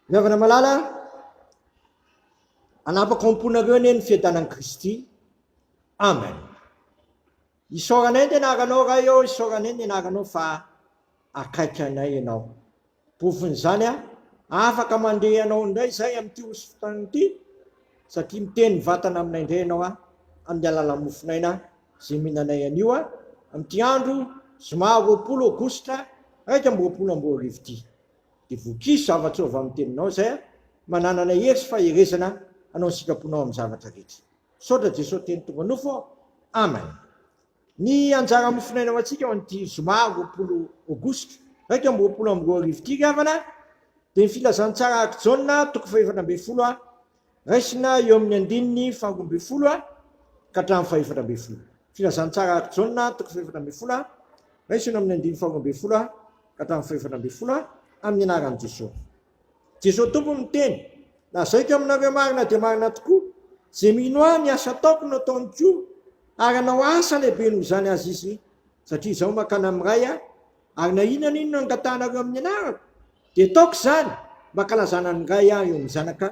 Ny havana malala, hanapaka ao am-ponareo anie ny fiadanan'i Kristy. Amen. Isaoranay ny anaranao Ray ô, isaoranay ny anaranao fa akaiky anay ianao. Pofon'izany a, afaka mandeha anao indray izay amin'ity hosofontany ity, satria miteny vatana aminay indray ianao a, amin'ny alalan'ny mofon'aina Zeminanay anio a! amin'ity andro zoma roapolo aogositra iraika amby roapolo amby roa arivo ity. Dia vokizo zavatra ao avy amin'ny teninao izay a! mba nanana hery sy faherezana hanao ny sitraponao amin'ny zavatra rehetra. Misaotra Jesoa Teny tonga nofo ô! Amen. Ny anjara mofonaina ho antsika ao amin'ity zoma roapolo aogositra iraika amby roapolo amby roa arivo ity ry havana dia ny filazantsara araka i Jaona toko fahefatra ambin'ny folo a! Raisina eo amin'ny andininy faharoa ambin'ny folo ka hatramin'ny fahefatra ambin'ny folo. Filazantsara araka Jaona, toko fahefatra ambin'ny folo, Raisina eo amin'ny andininy faharoa ambin'ny folo ka hatramin'ny fahefatra ambin'ny folo amin'ny anaran'i Jesosy. Jesosy Tompo miteny, Lazaiko aminareo marina dia marina tokoa, izay mino ahy, ny asa ataoko no ataony koa, ary hanao asa lehibe noho izany aza izy, satria izaho mankany amin'ny Ray, ary na inona na inona angatahanareo amin'ny anarako, Dia ataoko izany mba hankalazana an'i Ray aho eo amin'ny Zanaka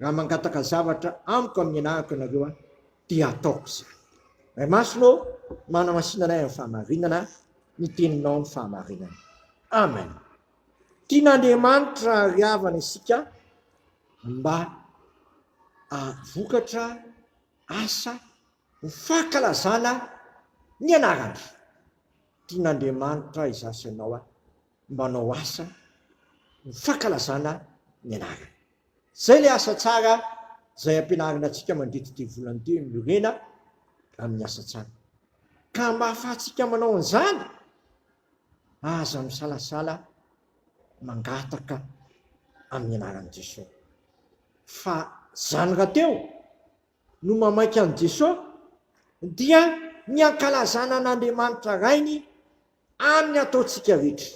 raha mangataka zavatra amiko amin'ny anarako ianareo an, dia ataoko izany. Ray Masina ô, manamasina anay amin'ny fahamarinana ny Teninao ny fahamarinana. Amen. Tian'Andriamanitra ary havana isika mba havokatra asa ho fankalazana ny anarany. Tian'Andriamanitra izaho sy ianao an, manao asa ho fankalazana ny anarany. Izay ilay asa tsara izay ampianarina antsika mandritra ity volana ity hoe miorena amin'ny asa tsara. Ka mba hahafahantsika manao an'izany, aza misalasala mangataka amin'ny anaran'i Jesoa. Fa izany rahateo no mamaika an'i Jesoa dia ny hankalazana an'Andriamanitra Rainy Any ny ataontsika rehetra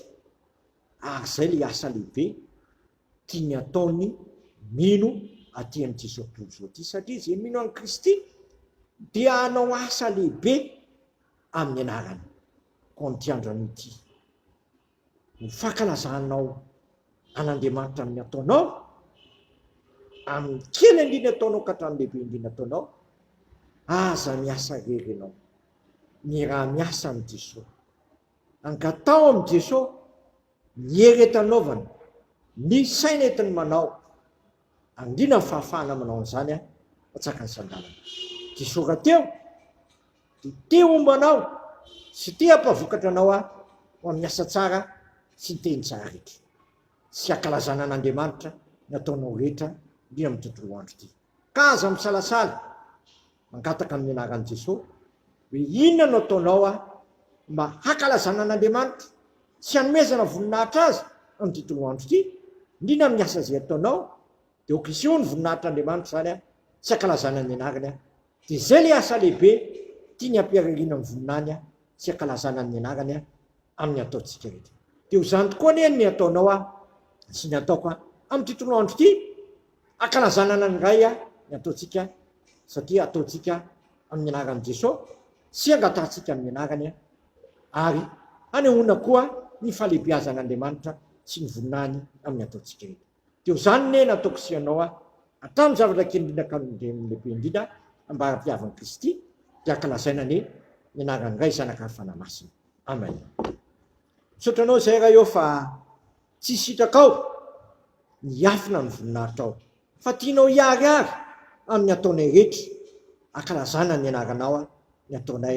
ary izay ilay asa lehibe tiany ataon'ny mino aty amin'izao tontolo izao ity satria izay mino an'i Kristy dia hanao asa lehibe amin'ny anarany. Koa amin'ity andro anio ity ho fankalazanao an'Andriamanitra amin'ny ataonao amin'ny kely indrindra ataonao ka hatramin'ny lehibe indrindra ataonao aza miasa irery ianao miara-miasa amin'i Jesosy. Angataho amin'i Jesosy ny hery entanaovany, ny saina entiny manao. Angina ny fahafahana manao an'izany aho, fa tsy haka ny sandanana. Jesosy rahateo dia te homba anao sy te hampavokatra anao aho ho amin'ny asa tsara sy ny teny tsara rehetra sy hankalazana an'Andriamanitra ny ataonao rehetra indrindra amin'ny tontolo andro ity. Ka aza misalasala mangataka amin'ny anaran'i Jesoa hoe inona no ataonao aho mba hankalazana an'Andriamanitra sy hanomezana voninahitra Azy amin'ity toloandro ity, indrindra amin'ny asa izay ataonao dia aoka hiseho ny voninahitr'Andriamanitra izany a, sy hankalazana ny anarany a, dia izay ilay asa lehibe tiany hampiaririana ny voninahiny a, sy hankalazana ny anarany a, amin'ny ataontsika rehetra. Dia ho izany tokoa anie ny ataonao aho sy ny ataoko aho amin'ity tolona andro ity, ankalazana anan'ny Ray aho ny ataontsika satria ataontsika amin'ny anaran'i Jesoa sy angatahantsika amin'ny anarany ary hanehoana koa ny fahalehibiazan'Andriamanitra sy ny voninahiny amin'ny ataontsika rehetra. Teo zany ne nataoko sy ianao aho hatramin'ny zavatra kely indrindra ka ny lehibe indrindra ambara-piavin'i Kristy dia ankalazaina anie ny anarany Ray Zanaka ary Fanahy Masina. Amen. Misaotra anao izay Ray ô fa tsy isitrakao ny hiafina amin'ny voninahitrao fa tianao hiharihary amin'ny ataonay rehetra ankalazana ny anaranao ny ataonay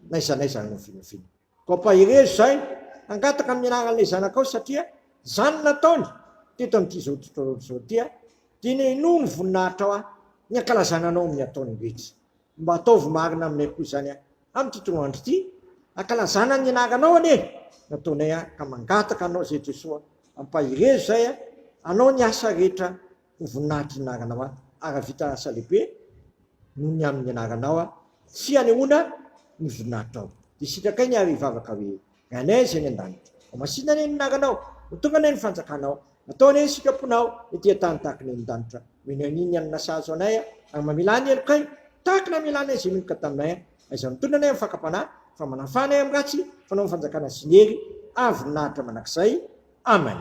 na aiza na aiza no nofinofiana. Mampahery izay, hangataka ny anaran'ilay zanakao satria izany nataony teto amin'ity izao tontolo izao ity aho, dia nenoy ny voninahitrao aho, ny hankalazana anao amin'ny ataony rehetra. Mba ataovy marina aminay koa izany aho amin'ity toa andro ity, hankalazana ny anaranao anie no ataonay aho, ka mangataka anao izay Jesoa, ampaherezo izay aho, hanao ny asa rehetra Ho voninahitry ny anaranao aho. Hahavita asa lehibe noho ny amin' ny anaranao aho, tsy hanehoana ny voninahitrao. Dia sitrakainy ary hivavaka hoe, Ry Anay izay any an-danitra, homasina anie ny anaranao. Ho tonga anie ny fanjakanao. Atao anie ny sitraponao ety an-tany tahaka ny any an-danitra. Omeny anie ny hanina sahaza ho anay aho, ary mamelà ny helokay tahaka ny namelà anay izay meloka taminay aho. Aiza mitondra anay amin'ny fakam-panahy, fa manafaha anay amin'ny ratsy? Fanao ny fanjakana sy ny hery ary voninahitra mandrakizay. Amen.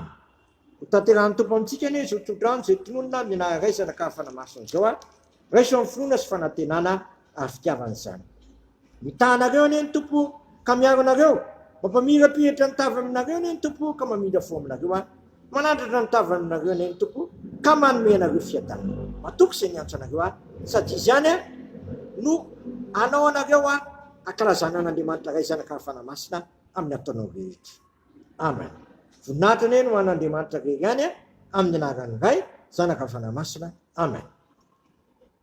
Ho tanterahin'ny Tompo amintsika anie izao tsodrano izay tononina amin'ny naha-raisana ka fanamaso an'izao aho, raiso amin'ny finoana sy fanantenana ary fitiavana izany. Mitaha anareo anie ny Tompo ka miaro anareo, mampamirapiratra ny tavany aminareo anie ny Tompo ka mamindra fo aminareo aho, manandratra ny tavany aminareo anie ny Tompo ka manome anareo fiadanana. Matoky izay niantso anareo aho, sady Izy ihany aho no hanao anareo aho hankalazana an'Andriamanitra Ray, Zanaka ary Fanahy Masina amin'ny ataonao rehetra. Amen! Voninahitra anie ny ho an'Andriamanitra very any amin'ny anaran'ny Ray, Zanaka, Fanahy Masina. Amen!